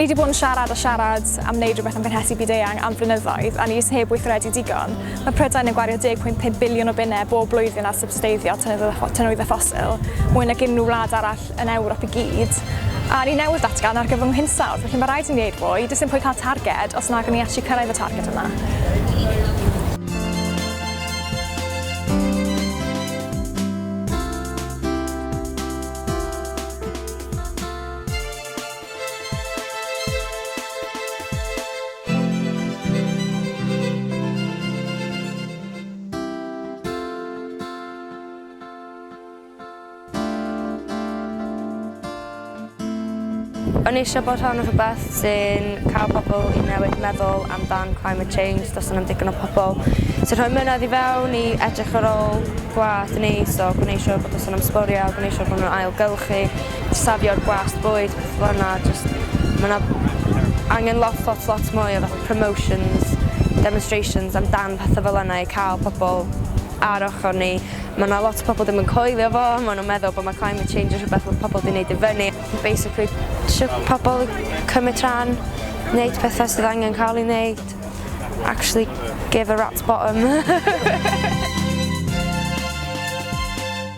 Ni 'di bod yn siarad a siarad am wneud rhywbeth am gynhesu byd-eang am flynyddoedd a ni jyst heb weithredu digon. Mae Prydain yn gwario 10.5 biliwn o bunnau bob blwyddyn ar sybsteiddio tynwyddau ffosil, mwy nag unrhyw wlad arall yn Ewrop i gyd. A ni newydd ddatgan argyfwng hinsawdd, felly mae rhaid i ni wneud fwy, does dim pwynt cael targed os nag yn ni allu cyrraedd y targed yna. O'n i eisiau bod rhan o rhywbeth sy'n cael pobl i newid meddwl amdan climate change dros yna'n digon o pobl sy'n rhoi mynedd i fewn i edrych ar ôl gwlad neis o gwneud siwr bod yn sôn am sbwriel, gwneud siwr bod nhw'n ailgylchu, safio'r gwast bwyd petha fel 'na jyst ma' 'na angen lot lot lot mwy o fatha promotions demonstrations am dan petha fel yna i ca'l pobol ar ochor ni ma' 'na lot o pobol dim yn coelio fo ma' nw'n meddwl bo' ma' climate change yn rhwbeth ma' pobol 'di neud i fyny basically trio pobol cymyd rhan neud petha sydd angen ca'l 'i neud actually give a rat's bottom.